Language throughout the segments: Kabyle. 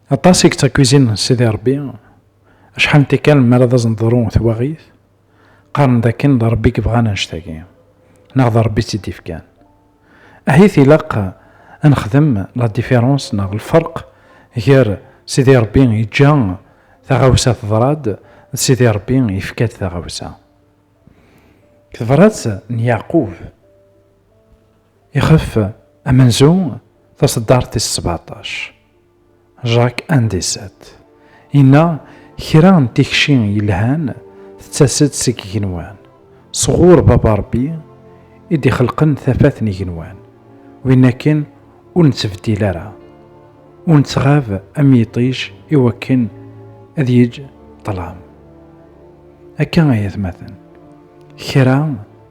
Aṭas i yettakwizin Sidi Ṛebbi, acḥal n tikkal mi ara d asen-teḍru twaɣit, qqaren dakken d Ṛebbi i yebɣan annect-agi, neɣ d Ṛebbi i tt-id-ifkan. Ahit ilaq a nexdem la différence neɣ lferq gar Sidi Ṛebbi yeǧǧa taɣawsa teḍra-d d Sidi Ṛebbi yefka-d taɣawsa. Deg tebṛat n Yeɛqub. Ixef amenzu taṣeddart tis sbeɛṭac, Jacques Indécet, yenna kra n tikci yelhan tettas-d seg igenwan, sɣur Baba Ṛebbi i d-ixelqen tafat n igenwan, win akken ur nettbeddil ara, ur nettɣab am yiṭij i wakken ad yeǧǧ ṭṭlam. Akka ay atmaten, kra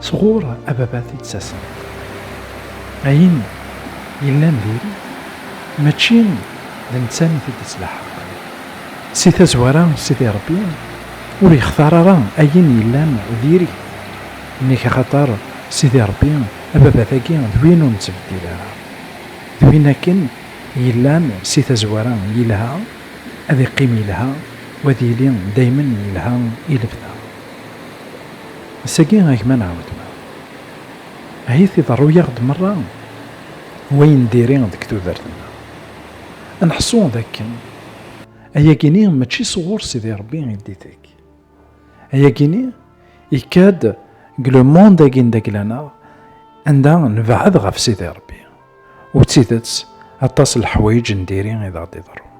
sɣur ababat i d-ttasen. Ayen yellan diri, mačči d netta i t-id-ittlaḥaq. Si tazwara, Sidi Rebbi ur yextar ara ayen yellan diri, nnig axaṭer Sidi Rebbi ababat-agi d win ur nettbeddil ara. D win akken yellan si tazwara yelha, ad iqqim yelha, u ad yili daymen yelha i lebda. Ass-agi a gma nɛawed-ma ahit iḍerru-yaɣ-d merra wayen diri deg tudert-nneɣ. Ad neḥṣu d akken ayagi-nni mačči sɣur Sidi Rebbi i d-ittekk. Ayagi-nni yekka-d deg le monde-agi n dagla-neɣ anda nebɛed ɣef Sidi Rebbi. U d tidet, aṭas n leḥwayeǧ n diri i d aɣ-d-iḍerrun.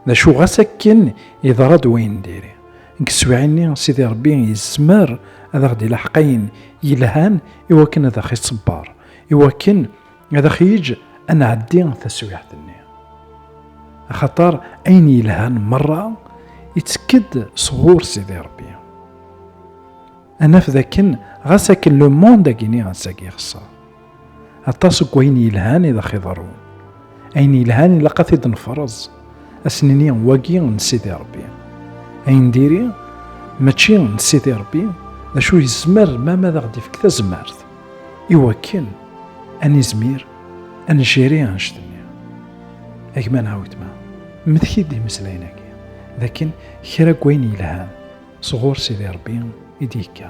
D acu ɣas akken yeḍra-d wayen n diri, deg teswiɛin-nni Sidi Ṛebbi yezmer ad aɣ-d-ilaḥeq ayen yelhan i wakken ad aɣ-iṣebber, i wakken ad aɣ-yeǧ ad nɛeddi taswiɛt-nni. Axaṭer ayen yelhan meṛṛa ittekk-d sɣur Sidi Ṛebbi. Ad naf dakken ɣas akken lemond-agi-nni ass-agi ixeṣṣer, aṭas n wayen yelhan i d axiḍerrun ayen yelhan ilaq ad t-id-nefreẓ asnini wagi n Sidi Rebbi ayen diri mačči n Sidi Rebbi d acu yezmer mama ad aɣ-d-ifk tazmert i wakken ad nizmir ad njiri anect-nni agma neɣ wetma mmteki-d imeslayen-agi d akken kra n wayen yelhan sɣur Sidi Rebbi i d-yekka